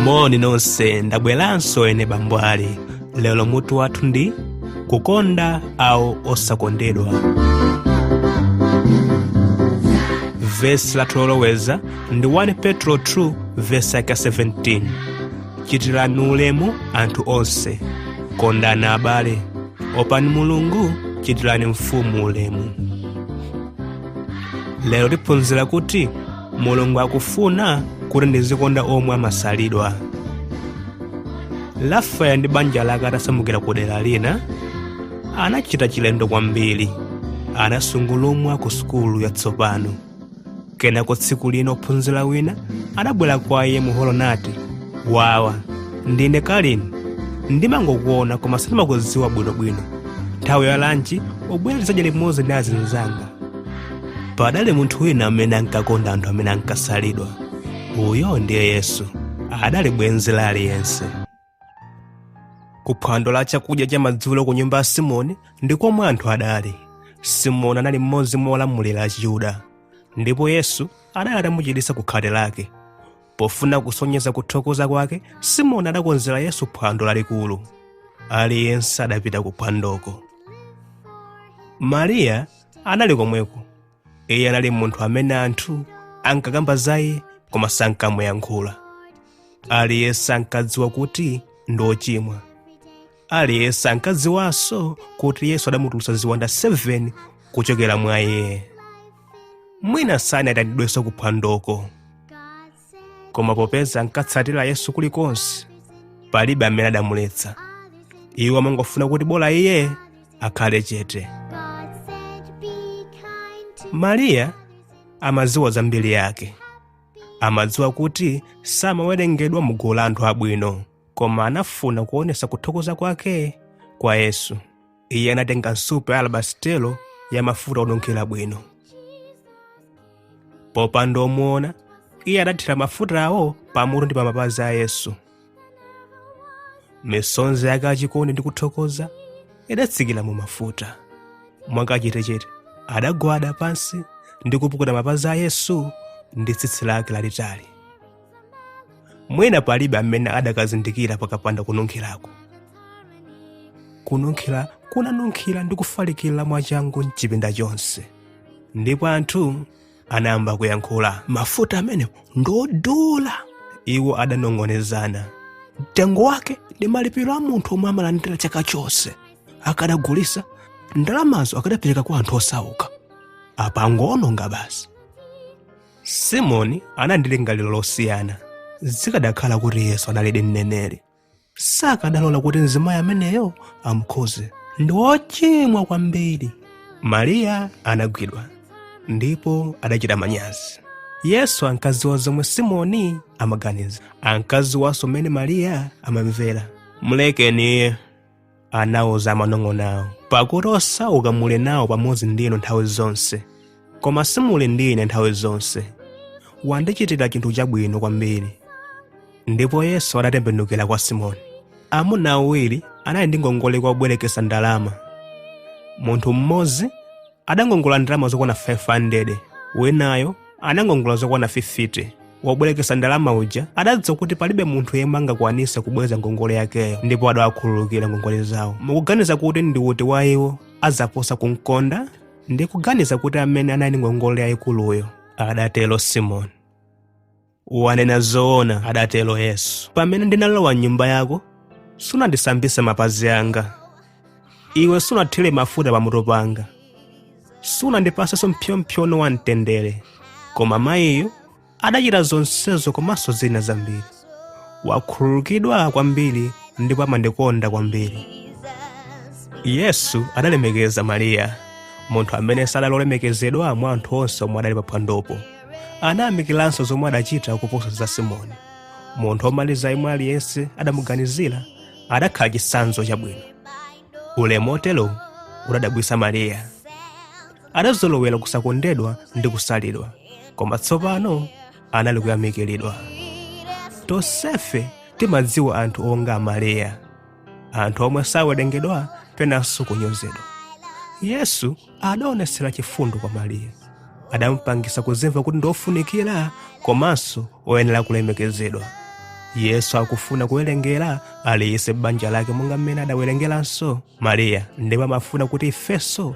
moni nonse ndabweranso ene bambo ali lero mutu wathu ndi kukonda awo osakondedwa vesi lathu loloweza ndi 1 petro 2 vesi yake 17 chitirani ulemu anthu onse kondani abale opani mulungu chitirani mfumu ulemu lero tiphunzira kuti mulungu akufuna kuti ndizikonda omwe amasalidwa rafael ndi banja lake atasamukira ku dera lina anachita chilendo kwambiri anasungulumwa ku sukulu yatsopano kenako tsiku lina ophunzira wina adabwera kwa iye muholo nati wawa ndine kalini ndimangokuona koma sindimakudziwa bwinobwino nthawi ya lanchi ubwere tizadya limodzi ndi azinzanga padali munthu wina amene ankakonda anthu amene ankasalidwa uyo ndiye yesu adali bwenzi la aliyense ku phwando la chakudya cha madzulo ku nyumba ya simoni ndi komwe anthu adali simoni anali mmodzi mwa olamulira achiyuda ndipo yesu adali atamuchiritsa ku khate lake pofuna kusonyeza kuthokoza kwake simoni adakonzera yesu phwando lalikulu aliyense adapita ku phwandoko mariya anali komweko iye anali munthu amene anthu ankakamba za iye koma sankamuyankhula aliyense ankadziwa kuti ndi ochimwa aliyense ankadziwanso kuti yesu adamutulutsa ziwanda 7 kuchokera mwa iye mwina sanayitanidwenso kuphwandoko koma popeza ankatsatira yesu kulikonse palibe amene adamuletsa iwo amangofuna kuti bola iye akhale chete mariya amadziwa za mbiri yake amadziwa kuti samawerengedwa mu gulu la anthu abwino koma anafuna kuonesa kuthokoza kwake kwa yesu iye anatenga nsupa ya alabasitelo ya mafuta onunkhira bwino popanda omuona iye adathira mafutawo pamutu ndi pamapazi a yesu misonzi yake yachikondi ndi kuthokoza idatsikira mu mafuta mwakachetechete adagwada pansi ndi kupukuta mapazi a yesu ndi tsitsi lake lalitali mwina palibe amene adakazindikira pakapanda kununkhirako kununkhira kunanunkhira ndi kufalikira mwachangu mchipinda chonse ndipo anthu anayamba kuyankhula mafuta amenewo ndodula iwo adanong'onezana mtengo wake ndi malipiro a munthu omwe amalandira chaka chonse akadagulisa ndalamazo akadapereka kwa anthu osauka apa angoononga basi simoni anali ndi lingaliro losiyana zikadakhala kuti yesu analidi mneneri sakadalola kuti mzimayi ameneyo amukhuze ndi wochimwa kwambiri mariya anagwidwa ndipo adachita manyazi yesu ankadziwa zomwe simoni amaganiza ankadziwanso mmene mariya amamvera mlekeni iye anawuza amanong'onowo pakuti osauka muli nawo pamodzi ndi inu nthawi zonse koma simuli ndi ine nthawi zonse wandichitira chinthu chabwino kwambiri ndipo yesu adatembenukira kwa simoni amuna awiri anali ndi ngongole kwa wobwerekesa ndalama munthu mmodzi adangongola ndalama zokwana 500 winayo anangongola zokwana 50 wobwerekesa ndalama uja adadziwa kuti palibe munthu yemwe angakwanise kubweza ngongole yakeyo ndipo adawakhululukira ngongole zawo mukuganiza kuti ndi uti wa iwo azaposa kumkonda ndikuganiza kuti amene anali ndi ngongole yayikuluyo adatero simoni wanena zoona adatero yesu pamene ndinalowa m'nyumba yako sunandisambise mapazi anga iwe sunathire mafuta pamutu panga sunandipasenso mpsyompsyono wa mtendere koma mayiyu adachita zonsezo komanso zina zambiri wakhululukidwa kwambiri ndipo amandikonda kwambiri yesu adalemekeza mariya munthu amene sadali olemekezedwa mwa anthu onse omwe adali paphwandopo anayamikiranso zomwe adachita kuposa za simoni munthu womaliza yemwe aliyense adamuganizira adakhala chitsanzo chabwino ulemu otero udadabwisa mariya adazolowera kusakondedwa ndi kusalidwa koma tsopano anali kuyamikiridwa tonsefe timadziwa anthu onga mariya anthu omwe sawerengedwa penanso kunyozedwa yesu adaonesera chifundo kwa mariya adampangisa kuzimva kuti ndi ofunikira komanso oyenera kulemekezedwa yesu akufuna kuwerengera aliyense m'banja lake monga mmene adawerengeranso mariya ndipo amafuna kuti ifenso